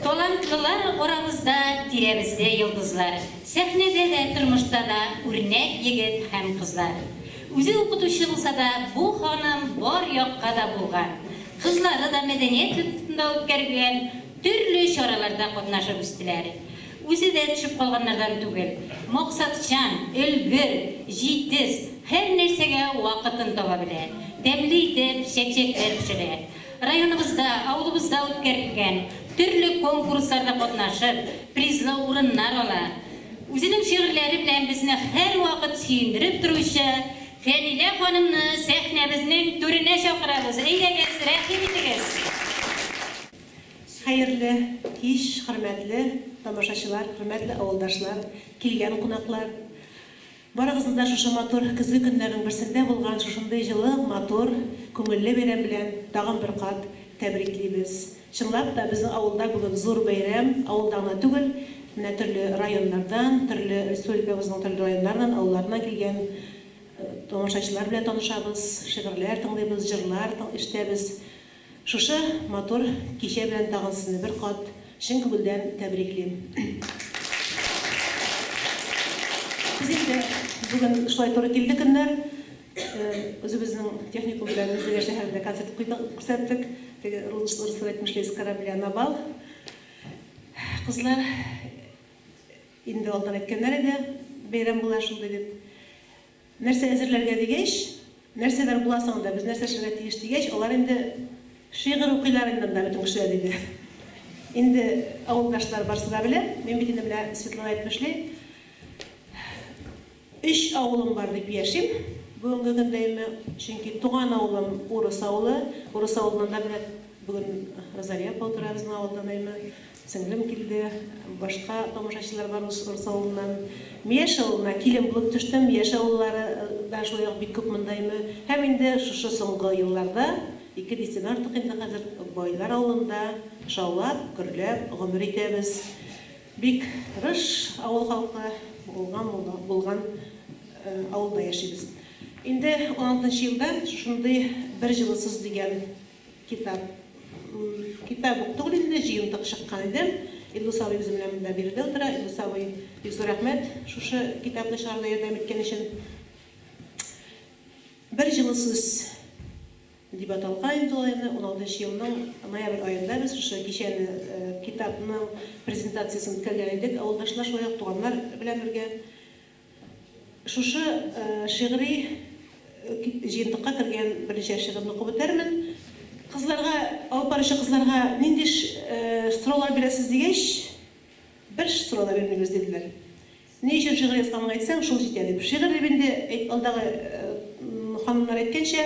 Талантлылар арабызда, тирәбездә йолдызлар. Сәхнәдә дә, тормышта да үрнәк егет һәм кызлар. Үзе укытучы булса да, бу ханым бар якка да булган. Кызлары да мәдәният йортында үткәрелгән төрле чараларда катнашып үстеләр. Үзе дә төшеп калганнардан түгел. Максатчан, өлгер, җитез, һәрнәрсәгә вакытын таба белә. Тәмле итеп чәкчәкләр пешерә. Районыбызда, авылыбызда үткәрелгән төрле конкурсларда катнашып, призлы урыннар ала. Үзенең шигырьләре белән безне һәрвакыт сөендереп торучы Фәнилә ханымны сәхнәбезнең түренә чакырабыз. Әйдәгез, рәхим итегез! Хәерле кич, хөрмәтле тамашачылар, хөрмәтле авылдашлар, килгән кунаклар! Барыгызны да шушы матур көзге көннәрнең берсендә булган шушындый җылы, матур, күңелле бәйрәм белән тагын бер кат тәбриклибез. Чынлап та, безнең авылда бүген зур бәйрәм, авылда гына түгел, менә төрле районнардан, төрле республикабызның төрле районнарыннан, авылларыннан килгән тамашачылар белән танышабыз, шигырьләр тыңлыйбыз, җырлар ишетәбез. Шушы матур кичә белән тагын сезне бер кат чын күңелдән тәбриклим. Без инде бүген шулай туры килде көннәр. Үзебезнең техникум белән Минзәлә шәһәрендә концерт күрсәттек. Теге рус әйтмешли с корабля на бал. Кызлар инде алдан әйткәннәр иде, бәйрәм була шундый дип. Нәрсә әзерләргә дигәч, нәрсәләр була соң анда, без нәрсә эшләргә тиеш дигәч, алар инде, Шигырь укыйлар инде анда бөтен кешеләр, диде. Инде авылдашлар барсы да белә, мин бит инде менә Светлана әйтмешли, өч авылым бар дип яшим бүгенге көндә име, чөнки туган авылым Урыс авылы, Урыс авылыннан да менә бүген Розалия апа утыра безнең авылдан име, Сеңлем килде, башка тамашачылар бар Урыс авылыннан. Мияш авылына килен булып төштем, Мияш авыллары да шулай ук бик күп мондаймы. Һәм инде шушы соңгы елларда ике дистәдән артык инде хәзер Байлар авылында шаулап, гөрләп гомер итәбез. Бик тырыш авыл халкы булган булган авылда яшибез. Инде уналтынчы елдан шушындый бер җылысыз дигән Китап. Китап ук түгел инде, җыентык чыккан иде. Илдус абый үзем белән монда биредә утыра. Илдус абый, бик зур рәхмәт шушы китапны чыгаруда ярдәм иткән өчен. Бер җылы сүз дип аталган инде ул әйберне. Уналтынчы елның ноябрь аенда без шушы кичәне, китапның презентациясен үткәргән идек, авылдашлар, шулай ук туганнар белән бергә. Шушы шигъри җыентыкка кергән берничә шигырьне укып үтәрмен. Кызларга, алып баручы кызларга нинди сораулар бирәсез дигәч, бер сорау да бирмибез, диделәр. Ни өчен шигырь язганыңны әйтсәң, шул җитә, дип. Шигырь дип инде, алдагы ханымнар әйткәнчә,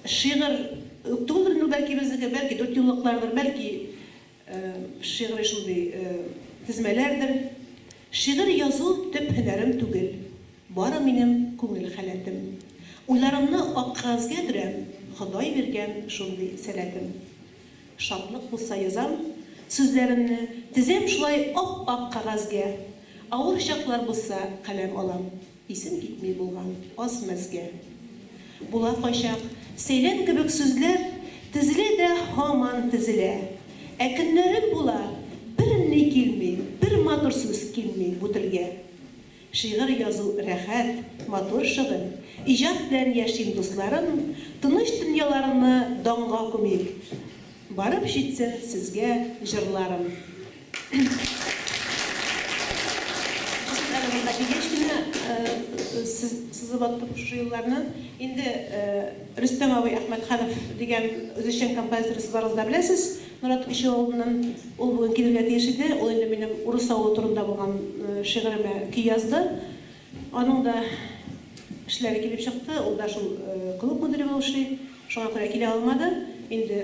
шигырь үк түгелдер инде ул бәлки безнеке, бәлки дүртьюллыклардыр, бәлки. Шигъри шундый тезмәләрдер. Шигырь язу төп һөнәрем түгел, бары минем күңел халәтем. Уйларымны ак кәгазьгә төрәм, Ходай биргән шундый сәләтем. Шатлык булса язам сүзләремне, тезәм шулай ап-ак кәгазьгә, авыр чаклар булса каләм алам. Исем китми булган аз мәзгә. Була кайчак сәйлән кебек сүзләр Тезелә дә һаман тезелә. Ә көннәрем була, берни килми, Бер матур сүз килми бу телгә. Шигырь язу рәхәт, матур шөгыль, Иҗат белән яшим, дусларым, Тыныч дөньяларны данга күмик! Барып җитсен сезгә җырларым. Кызым әле монда килгәч кенә сызып аттым шушы елларны. Инде Рөстәм абый Әхмәтханов дигән үзешчән композиторыбыз барыгыз да беләсез, Нурат Кече авылыннан. Ул бүген килергә тиеш иде, ул инде минем Урыс авылы турында булган шигыремә көй язды. Аның да эшләре килеп чыкты, ул да шул клуб мөдире булып эшли, шуңа күрә килә алмады. Инде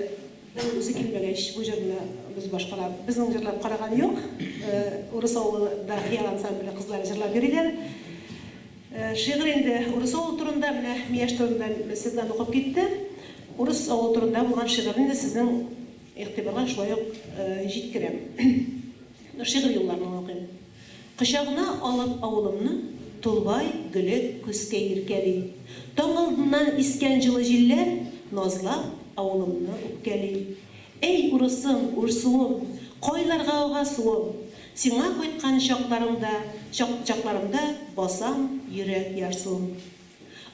ул үзе килмәгәч, бу җырны без башкара. Безнең җырлап караган юк. Урыс авылы да хыял ансамбле кызлары җырлап йөриләр. Шигырь инде урыс авылы турында, менә Мияш турында Светлана укып китте. Урыс авылы турында булган шигырьне дә сезнең игътибарга шулай ук җиткерәм. Шигырь юлларын гына укыйм. Кочагына алып авылымны Тулбай гөле көскә иркәли. Таң алдыннан искән җылы җилләр Назлап авылымны үпкәли. Әй, урысым, Урсуым, Кайларга ага суым, Сиңа кайткан чакларымда, чак, чакларымда Басам йөрәк ярсуым.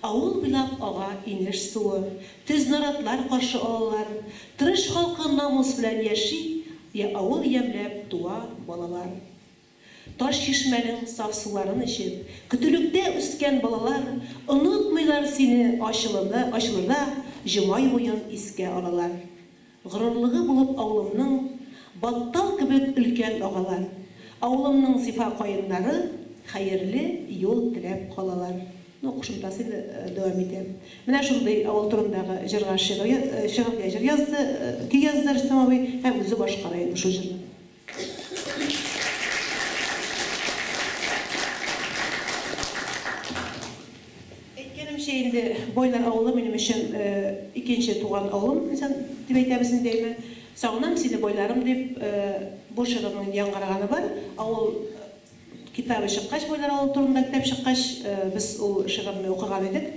Авыл буйлап ага инеш суы, Төз наратлар каршы алалар. Тырыш халкы намус белән яши, Авыл ямьләп туа балалар. Таш чишмәнең саф суларын эчеп, көтүлектә үскән балалар онытмыйлар сине ачылырда ачылырда җома юлын искә алалар. Горурлыгы булып авылымның Баттал кебек өлкән агалар, авылымның зифа каеннары хәерле юл теләп калалар. Ну, кушымтасы инде дәвам итә. Менә шундый авыл турындагы җырга шигырь, шигырьгә җыр язды, көй язды Рөстәм абый һәм үзе башкара инде шул җырны. Әйткәнемчә инде, Байлар авылы минем өчен икенче туган авылым дип әйтәбез инде, әйме. Сагынам сине, байларым, дип бу жырының яңгыраганы бар. Авыл Китабы чыккач, Бойлар авылы турында китап чыккач, без ул шигырьне укыган идек.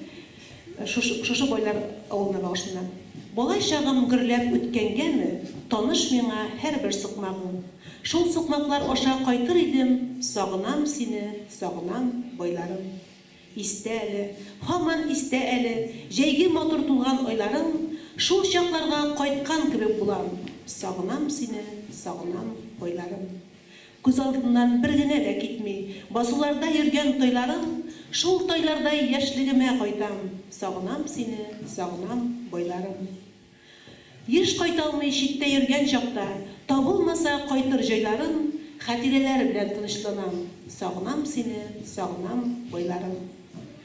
Шушы, шушы Бойлар авылына багышлана. Бала чагым гөрләп үткәнгәме, Таныш миңа һәрбер сукмагың. Шул сукмаклар аша кайтыр идем, Сагынам сине, сагынам, Бойларым. Истә әле, һаман истә әле, Җәйге матур тулган айларың. Шул чакларга кайткан кебек булам, Сагынам сине, сагынам, Бойларым. Күз алдыннан бер генә дә китми. Басуларда йөргән тойларым, Шул тойлардай яшьлегемә кайтам. Сагынам сине, сагынам, байларым. Еш кайталмый читтә йөргән чакта, Табылмаса кайтыр җайларым, Хәтирәләр белән тынычланам. Сагынам сине, сагынам, байларым.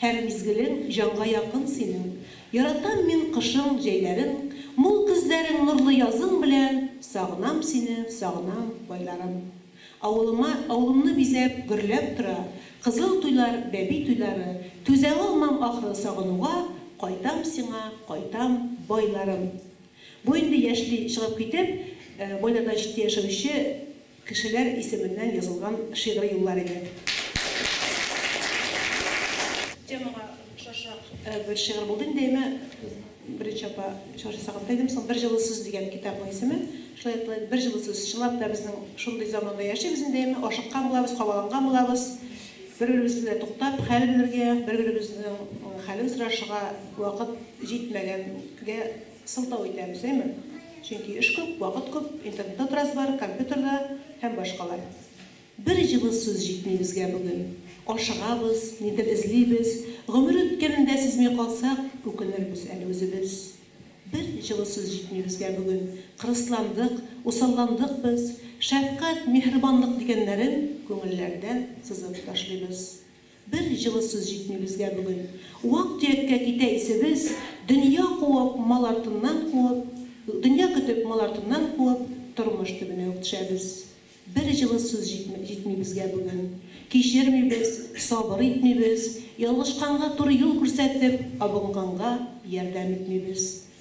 Һәр мизгелең җанга якын синең, Яратам мин кышың, җәйләрең, Мул көзләрең, нурлы язың белән, Сагынам сине, сагынам, байларым. Авылыма, авылымны бизәп, гөрләп тора, Кызыл туйлар, бәби туйлары, Түзә алмам, ахры, сагынуга, Кайтам сиңа, кайтам, байларым. Бу инде яшьли чыгып китеп, байларда читтә яшәүче Кешеләр исеменнән язылган шигъри юллар иде. Темага ошашак бер шигырь булды инде, әйме, Бридж апа чыгыш ясаганда әйдем соң, Бер җылы сүз дигән китапның исеме. Шулай итеп инде Бер җылы сүз. Чынлап та безнең шундый заманда яшибез инде, әйме, ашыккан булабыз, кабаланган булабыз. Бер-беребез белән туктап хәл белергә, бер-беребезнең хәлен сорашырга вакыт җитмәгәнгә, Сылтау итәбез, әйме? Чөнки эш күп, вакыт күп, интернетта торасы бар, компьютерда һәм башкалар. Бер җылы сүз җитми безгә бүген. Ашыгабыз, нидер эзлибез, гомер үткәнен дә сизми калсак, үкенербез әле үзебез. Бер җылы сүз җитми безгә бүген. Кырысландык, усалландык без. Шәфкать, миһербанлык дигәннәрен күңелләрдән сызып ташлыйбыз. Бер җылы сүз җитми безгә бүген. Вак-төяккә китә исебез, Дөнья куып, мал артыннан куып, Дөнья көтеп, мал артыннан куып, Тормыш төбенә үк төшәбез. Бер җылы сүз җитми җитми безгә бүген. Кичермибез, сабыр итмибез, Ялгышканга туры юл күрсәтеп, Абынганга ярдәм итмибез.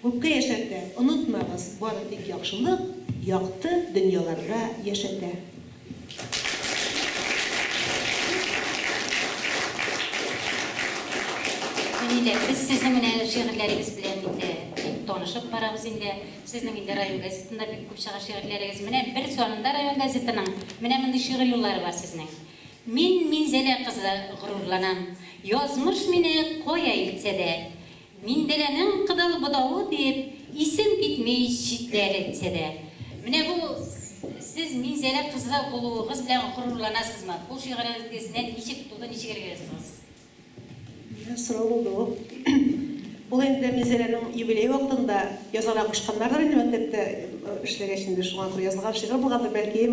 Күпкә яшәргә, онытмагыз, бары тик яхшылык, якты дөньяларда яшәтә. Әни дә, без сезнең менә шигырьләрегез белән инде бик танышып барабыз инде. Сезнең инде район газетында бик күп чыга шигырьләрегез. Менә бер санында район газетының менә мондый шигырь юллары бар сезнең. Мин Минзәлә кызы, горурланам. Язмыш мине кая илтсә дә. Миндерәнең Кыдыл бутавы дип исем китми читләр әйтсә дә. Менә бу Сез Минзәлә кызы булуыгыз белән горурланасызмы? Бу шигырегезне ничек туды, ничек элек яздыгыз? Дигән сорау булды бу. Ул инде Минзәләнең юбилее вакытында язарга кушканнардыр инде мәктәптә эшләгәч инде шуңа күрә язылган шигырь булгандыр бәлки.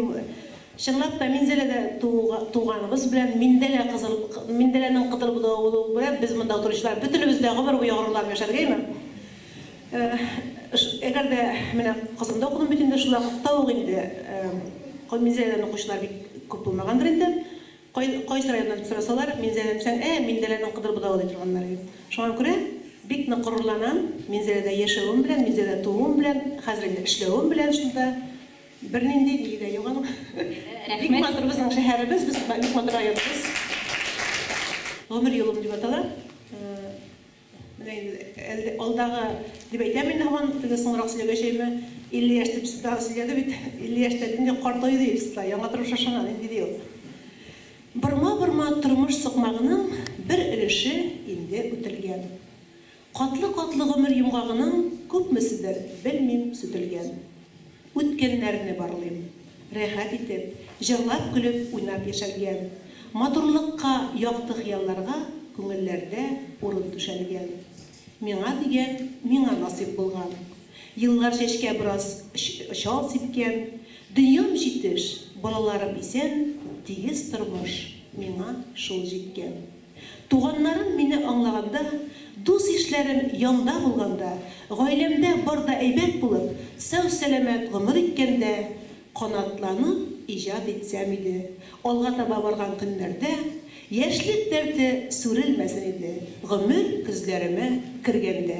Чынлап та, Минзәләдә туганыбыз белән Миндәлә кызыл, Миндәләнең кытыл буталуы белән без монда утыручылар бөтенебез дә гомер буе горурланып яшәргәме? Әгәр дә менә Казанда укыдым бит инде, шул вакытта ук инде Минзәләдән укучылар бик күп булмагандыр инде. Кайсы районнан дип сорасалар, Минзәләдән дисәң, ә, Миндәләнең кыдыр буталуы ди торганнар иде. Шуңа күрә бик нык горурланам Минзәләдә яшәвем белән, Минзәләдә тууым белән, хәзер инде эшләвем белән шунда. Бернинди биле дә юк аның. Рәхмәт. Бик матур безнең шәһәребез, без бик матур районыбыз. Гомер юлым дип атала. Менә инде алдагы дип әйтәм инде һаман, теге соңрак сөйләгәчәеме, 50 яшь дип Светлана сөйләде бит, 50 яшьтә нинди картаю ди Светлана, яңа тормыш ышана, нинди ди ул. Борма-борма тормыш сукмагының бер өлеше инде үтелгән. Катлы-катлы гомер йомгагының күпмеседер, белмим, сүтелгән. Үткәннәрне барлыйм. Рәхәт итеп, җырлап-көлеп, уйнап яшәлгән. Матурлыкка, якты хыялларга күңелләрдә урын түшәлгән. Миңа дигән, миңа насыйп булган. Еллар чәчкә бераз чал сипкән. Дөньям җитеш, балаларым исән, тигез тормыш, миңа шул җиткән. Туганнарым мине аңлаганда, дус-ишләрем янда булганда, гаиләмдә бар да әйбәт булып, сау-сәламәт гомер иткәндә, канатланып иҗат итсәм иде, алга таба барган көннәрдә яшьлек дәрте сүрелмәсен иде, гомер көзләремә кергәндә.